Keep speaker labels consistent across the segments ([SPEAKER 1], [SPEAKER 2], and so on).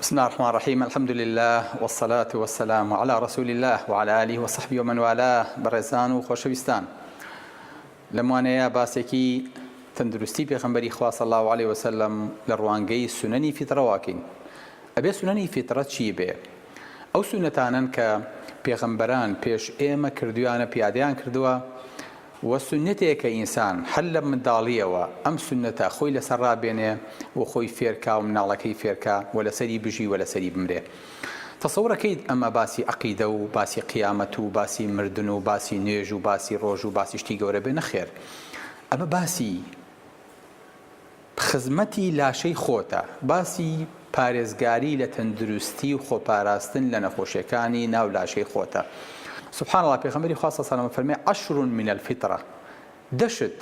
[SPEAKER 1] بسم اللە الرحمن الرحیم الحمد للە والصلاة والسلام علی رسول اللە وعلی آله وصحبه ومن والاه بەڕێزان و خۆشەویستان لەم وانەیە باسێکی تەندروستی پێغەمبەری خوا صلی الله علیه وسلم لە ڕوانگەی سنەنی فیتڕەواکەین ئەبێ سنەنی فیتڕە چی بێ ئەو سونەتانەن کە پێغەمبەران پێش ئێمە کردویانە پیادەیان کردووە وە سوننەتێ کە ئینسان هەر لە منداڵیەوە ئەم سوننەتە خۆی لەسەر ڕابێنێ و خۆی فێرکا و مناڵەکەی فێرکا و لەسەری بژی و لەسەری بمرێ تەسەور ئەکەیت ئەمە باسی عەقیدە و باسی قیامەت و باسی مردن و باسی نوێژ و باسی ڕۆژ و باسی شتی گەورە بێ نەخێر ئەمە باسی خزمەتی لاشەی خۆتە، باسی پارێزگاری لە تەندروستی و خۆپاراستن لە نەخۆشیەکانی ناو لاشەی خۆتە، سبحان اللە پێخەمبەری خوا صلی اللە علیە وسلم فەرمێ، عشر من الفطرە، دە شت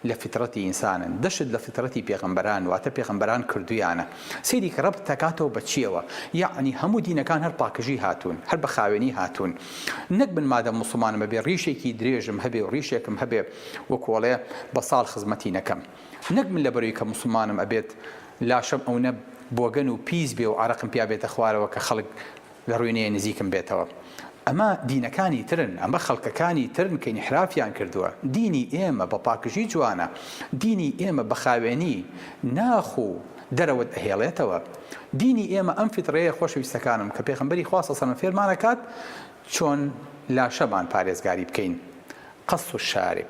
[SPEAKER 1] لە فیتڕەتی ئینسانن، دە شت لە فیتڕەتی پێغەمبەران واتە پێغەمبەران کردویانە، سەیری کە رەبت دەکاتەوە بە چیەوە، یەعنی هەموو دینەکان هەر پاکژی هاتوون، هەر بە خاوێنی هاتوون، نەک من مادەم موسڵمانم ئەبێ ریشێکی درێژم هەبێ و ریشێکم هەبێ وەکو ئەڵێ بە ساڵ خزمەتی نەکەم. نەک من لەبەروی کە موسڵمانم ئەبێت لاشەم ئەونە بۆگەن و پیس بێ و عەرەقم پیا بێتە خوارەوە کە خەڵک لەڕوی نەیە نزیکم بێتەوە ئەمە دینەکانی ترن ئەمە خەڵکەکانی ترن کە ئینحرافیان کردوە دینی ئێمە بە پاکژی جوانە دینی ئێمە بە خاوێنی ناخ و دەرەوەت ئەهێڵێتەوە دینی ئێمە ئەم فیتڕەیە خۆشەویستەکانم کە پێغەمبەری خوا صلی سەلم فێرمانەکات چۆن لاشەمان پارێزگاری بکەین قص الشارب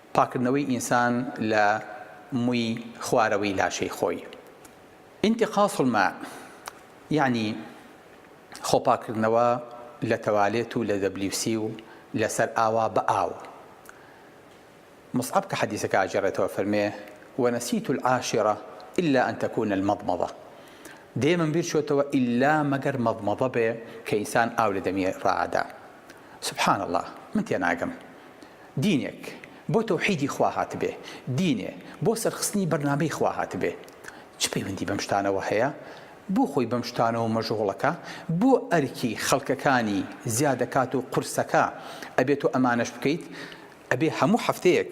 [SPEAKER 1] پاککردنەوەی ئینسان لە مووی خوارەوەی لاشەی خۆی، انتقاص الماء، یانی خۆپاککردنەوە لە تەوالێت و لە WC و لە سەرئاوا بە ئاو. مصعب کە حەدیسەکە ئەگێڕێتەوە فەرمێ، ونسیت العاشرە الا ان تکون المضمضە، دەیەمم بیر چۆتەوە ئیلا مەگەر مەضمەضە بێ کە ئینسان ئاو لە دەمی ڕائەدا. سبحان اللە! من تێناگەم دینێک بۆ تەوحیدی خوا هاتبێ، دینێ بۆ سەرخستنی بەرنامەی خوا هاتبێ چ پەیوەندی بەم شتانەوە هەیە؟ بۆ خۆی بەم شتانەوە مەژغوڵەکە؟ بۆ ئەرکی خەڵکەکانی زیادەکات و قورسەکە ئەبێ تۆ ئەمانەش بکەیت؟ ئەبێ هەموو هەفتەیەک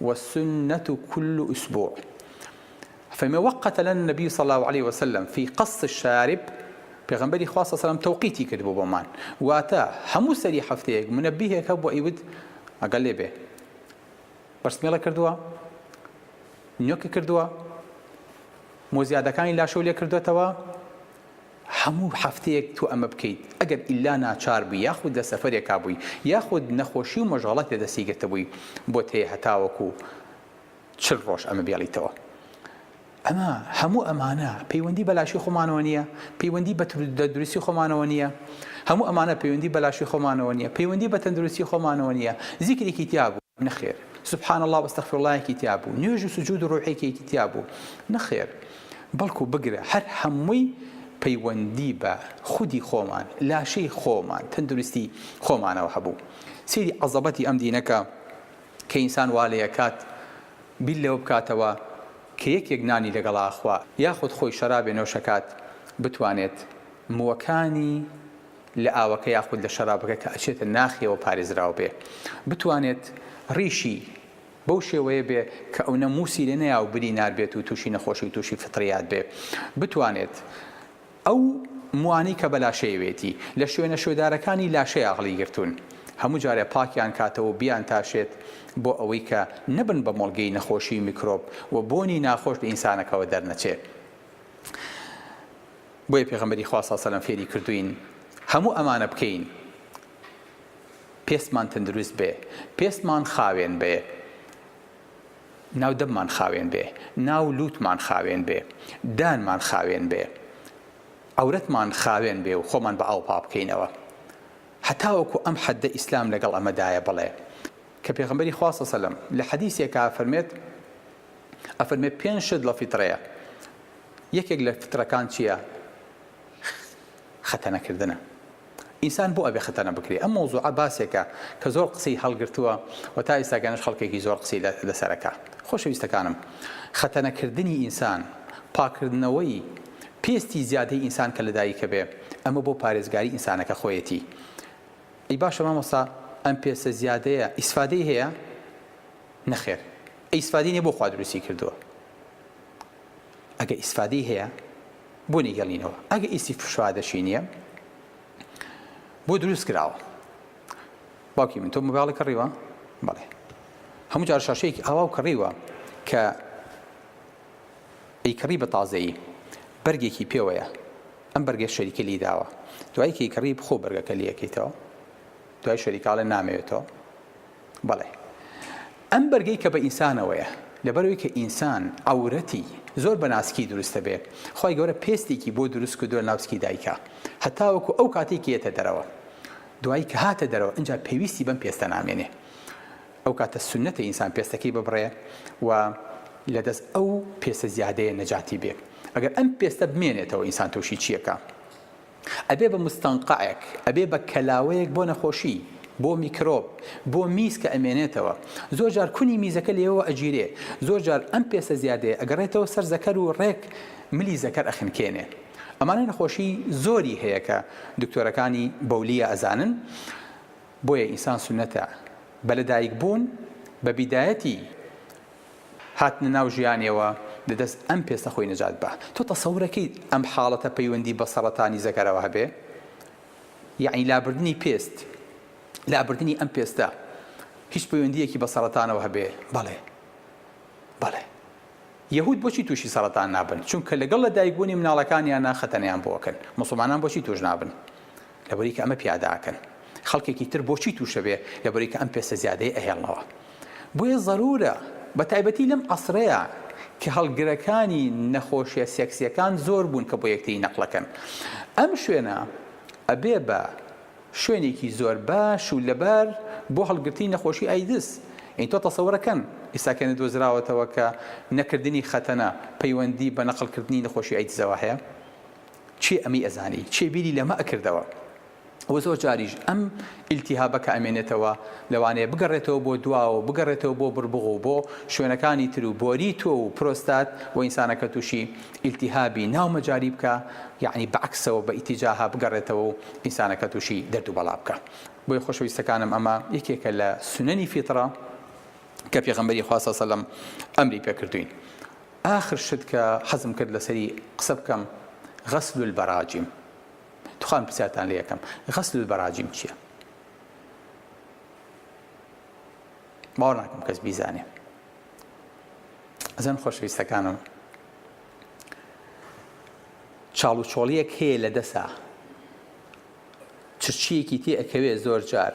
[SPEAKER 1] والسنە کل اسبوع فەرمی وقت لنا النبی صلی اللە علیە وسلم فی قص الشارب پێغەمبەری خوا صلی اللە علیە وسلم تەوقیتی کردبوو بۆمان واتە هەموو سەری هەفتەیەک منەبیهێک هەبوو ئەیوت ئەگەر لێ بێ بەرسمێڵە کردووە نوێکە کردووە مۆزیادەکانی لاشەو لێ کردوێتەوە هەموو هەفتەیەک تۆ ئەمە بکەیت، ئەگەر ئیلا ناچار بووی یاخود لە سەفەرێکا بووی یاخود نەخۆشی و مەشغەڵەت لە دەستی گرتبووی بۆت هەیە هەتاوەکو چل ڕۆژ ئەمە بێڵیتەوە. ئەمە هەموو ئەمانە پەیوەندی بە لاشەی خۆمانەوە نییە، پەیوەندی بە تەندروستی خۆمانەوە نییە، هەموو ئەمانە پەیوەندی بە لاشەی خۆمانەوە نییە، پەیوەندی بە تەندروستی خۆمانەوە نییە، زیکرێکی تیا بوو. نەخێر سبحان اللە وەستەغفرللەیەکی تیا بوو نوێژ و سجود و ڕۆحێکێکی تیا بوو نەخێر بەڵکو بگرە هەر هەمووی پەیوەندی بە خودی خۆمان لاشەی خۆمان تەندروستی خۆمانەوە هەبوو سیری عەزەبەتی ئەم دینەکە کە ئینسان وا لێکات بیر لەوە بکاتەوە کە یەکێک نانی لەگەڵا خوا یاخود خۆی شەرابێ نۆشەکات بتوانێت مووەکانی لە ئاوەکە یاخود لە شەرابەکە کە ئەچێتە ناخیەوە پارێزراو بێ بتوانێت ڕیشی بەو شێوەیە بێ کە ئەونە موسی لێ نەیا و بری نار بێت و تووشی نەخۆشی و تووشی فطریات بێ بتوانێت ئەو موانی کە بەلاشەیەوێتی لە شوێنە شوێدارەکانی لاشەیە هەڵی گرتوون هەموو جارێ پاکیان کاتەوە و بیان تاشێت بۆ ئەوەی کە نەبن بە مۆڵگەی نەخۆشی میکرۆب و بۆنی ناخۆش لە ئینسانەکەوە دەرنەچێ. بۆیە پێغەمبەری خوا صلی سەلەم فێری کردووین هەموو ئەمانە بکەین پێستمان تەندروست بێ پێستمان خاوێن بێ ناو دەممان خاوێن بێ ناو لوتمان خاوێن بێ دانمان خاوێن بێ عورەتمان خاوێن بێ و خۆمان بە ئاو پا بکەینەوە هەتاوەکو ئەم حەددە ئیسلام لەگەڵ ئەمەدایە بڵێ کە پێغمبەری خواصە سەلم لە حەدیسێکا فەرمێت ئەفەرمێ پێنج شت لە فیتڕەیە یەکێک لە فیتڕەکان چییە خەتەنەکردنە ئینسان بۆ ئەبێ خەتەنە بکرێ ئەم مەوزوعە باسێکە کە زۆر قسەی هەڵگرتووە و تا ئێستاگەنش خەڵکێکی زۆر قسەی لەسەرەکە خۆشەویستەکانم خەتەنەکردنی ئینسان پاکردنەوەی پێستی زیادەی ئینسان کە لەدایکە بێ ئەمە بۆ پارێزگاری ئینسانەکە خۆیەتی ئی باشە مامۆستا ئەم پێسە زیادەیە ئیسفادەی هەیە نەخێر ئیسفادەی نیە بۆ خوا دروستی کردووە ئەگەر ئیسفادەی هەیە بۆ نیگەڵینەوە ئەگە ئیسی فشادەشی نییە بۆ دروست کراوە باوکی من تۆ مباڵی کڕیوە بڵێ هەموو جار شاشەیەکی ئاوا و کڕیوە کە ئەیکڕی بە تازەیی بەرگێکی پێوەیە ئەم بەرگێ شەریکە لی داوە دوایکەی کڕی بخۆ بەرگەکە لەکەیتەوە دوای شەریکاڵە نامەوێتەوە بەڵێ ئەم بەرگەی کە بە ئینسانەوەیە لەبەرەوەی کە ئینسان عەورەتی زۆر بە ناسکی دروست دەبێ خوای گەورە پێستێکی بۆ دروست کردووە لەناو سکی دایکا هەتاوەکو ئەو کاتەی کە یەتە دەرەوە دوایی کە هاتە دەرەوە ئینجا پێویستی بەم پێستە نامێنێ ئەو کاتە سونەتە ئینسان پێستەکەی ببڕێ و لەدەست ئەو پێستە زیادەیە نەجاتی بێ ئەگەر ئەم پێستە بمێنێتەوە ئینسان تۆشی چیەکا؟ ئەبێ بە موستەنقەعێک، ئەبێ بە کەلاوەیەک بۆ نەخۆشی، بۆ میکرۆب، بۆ میز کە ئەمێنێتەوە. زۆر جار کونی میزەکە لێوەوە ئەگیرێ. زۆر جار ئەم پێستە زیادەیە ئەگەڕێتەوە سەر زەکەر و ڕێک ملی زەکەر ئەخنکێنێ. ئەمانە نەخۆشی زۆری هەیە کە دکتۆرەکانی بەولیە ئەزانن. بۆیە ئینسان سوننەتە بە لەدایکبوون، بە بیدایەتی هاتنە ناو ژیانیەوە لە دەست ئەم پێستە خۆی نەجات با تۆ تەسەورەکەیت ئەم حاڵەتە پەیوەندی بە سەڕەتانی زەکەرەوە هەبێ یەعنی لابردنی پێست لابردنی ئەم پێستە هیچ پەیوەندیەکی بە سەڕەتانەوە هەبێ بەڵێ بەڵێ یەهود بۆچی تووشی سەرەتان نابن چونکە لەگەڵ لە دایکبوونی مناڵەکانیانە خەتەنیان بۆکەن مسلمانان بۆچی توش نابن لەبری کە ئەمە پیادە ئەکەن خەڵکێکی تر بۆچی تووش ئەبێ لەبری کە ئەم پێستە زیادەیە ئەهێڵنەوە بۆیە زەرورە بە تایبەتی لەم عەسرەیا کە هەڵگرەکانی نەخۆشیە سێکسیەکان زۆر بوون کە بۆ یەکتری نەقلەکەن ئەم شوێنە ئەبێ بە شوێنێکی زۆر باش و لەبار بۆ هەڵگرتنی نەخۆشی ئایدز این تۆ تەسەورەکەن ئیساکەێنە دۆزراوەتەوە کە نەکردنی خەتەنە پەیوەندی بە نەقلکردنی نەخۆشی ئایدزەوە هەیە کێ ئەمەی ئەزانی کێ بیری لەمە ئەکردەوە وە زۆر جاریش ئەم ئیلتیهابە کە ئەمێنێتەوە لەوانەیە بگەڕێتەوە بۆ دواوە بگەڕێتەوە بۆ بڕبوغ و بۆ شوێنەکانی تر و بۆری تۆو و پرۆستات و ئینسانەکە تووشی ئیلتیهابی ناو مەجاری بکا یەعنی بە عەکسەوە بە ئیتیجاها بگەڕێتەوە و ئینسانەکە تووشی دەرد و بەڵا بکا بۆیە خۆشەویستەکانم ئەمە یەکێکە لە سونەنی فیتڕە کە پێغەمبەری خوا صلی اللە علیه و سلم ئەمری پێ کردووین. ئاخر شت کە حەزم کرد لەسەری قسە بکەم غسل البراجم تخوام پرسیارتان لێ ئەکەم غسل البراجم چیە باوەڕ ناکەم کەس بیزانێ ئەزان خۆشەویستەکانم چاڵ و چۆڵیەک هەیە لە دەسا چرچیەکی تێ ئەکەوێ زۆر جار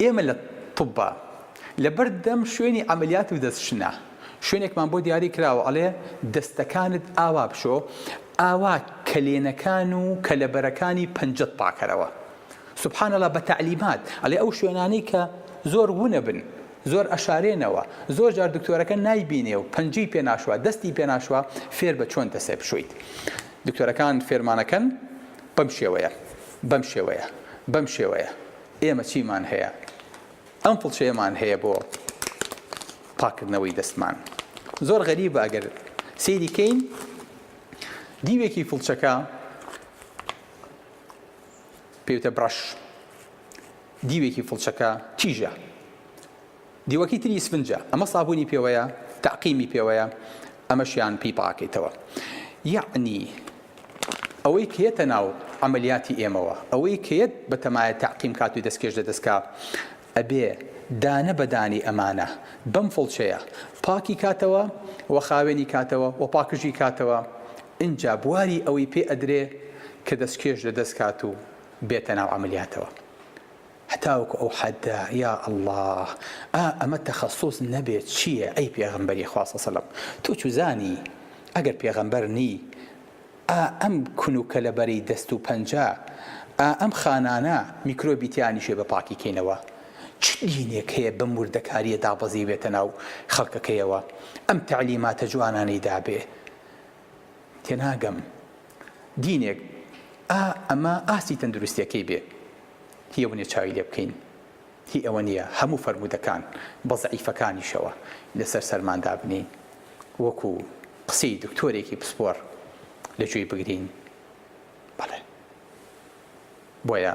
[SPEAKER 1] ئێمە لە طوبا لە بەر دەم شوێنی عەمەلیات و دەست شنە شوێنێکمان بۆ دیاری کراوە ئەڵێ دەستەکانت ئاوا بشۆ ئاوا کەلێنەکان و کەلەبەرەکانی پەنجەت پاکەرەوە سبحان اللە بە تەعلیمات ئەڵێ ئەو شوێنانەی کە زۆر ونە بن زۆر ئەشارێنەوە زۆر جار دکتۆرەکە نایبینێ و پەنجەی پێناشوە دەستی پێناشوە فێر بە چۆن دەسێ بشویت دکتۆرەکان فێرمانەکەن بەم شێوەیە. بەم شێوەیە. بەم شێوەیە. ئێمە چیمان هەیە؟ ئەم فڵچەیەمان هەیە بۆ پاککردنەوەی دەستمان. زۆر غەریبە ئەگەر سەیری کەین دیوێکی فڵچەکە پێوتە برەش. دیوێکی فڵچەکە تیژە. دیوەکی تری ئیسفنجە ئەمە سابونی پێوەیە تەعقیمی پێوەیە ئەمەشیان پێی پاکەیتەوە یەعنی ئەوەی کێتە ناو عەمەلیاتی ئێمەوە ئەوەی کێت بە تەمایە تەعقیم کات و دەستکێش لە دەستکا ئەبێ دانە بە دانەی ئەمانە بەم فڵچەیە پاکی کاتەوە و خاوێنی کاتەوە و پاکژی کاتەوە ئینجا بواری ئەوەی پێ ئەدرێ کە دەستکێش لە دەست کات و بێتە ناو عەمەلیاتەوە. هەتاوەکو ئەو حەدە یا اللە ئا ئەمە تەخەسوس نەبێ چیە ئەی پێغەمبەری خوا سەسەلەم تۆ چوزانی ئەگەر پێغەمبەر نی ئا ئەم کون و کەلەبەرەی دەست و پەنجە ئا ئەم خانانە میکرۆبی تیا نیشێ بە پاکی کەینەوە چ دینێک هەیە بەم وردەکاریە دابەزیبێتە ناو خەڵکەکەیەوە ئەم تەعلیماتە جوانانەی دابێ تێناگەم دینێک ئا ئەمە ئاستی تەندروستیەکەی بێ هی ئەوەنیە چاوی لێ بکەین هی ئەوە نیە هەموو فەرموودەکان بە زەعیفەکانیشەوە لەسەر سەرمان دابنین وەکو قسەی دکتۆرێکی پسپۆر لە گوێی بگرین بەڵێ بۆیە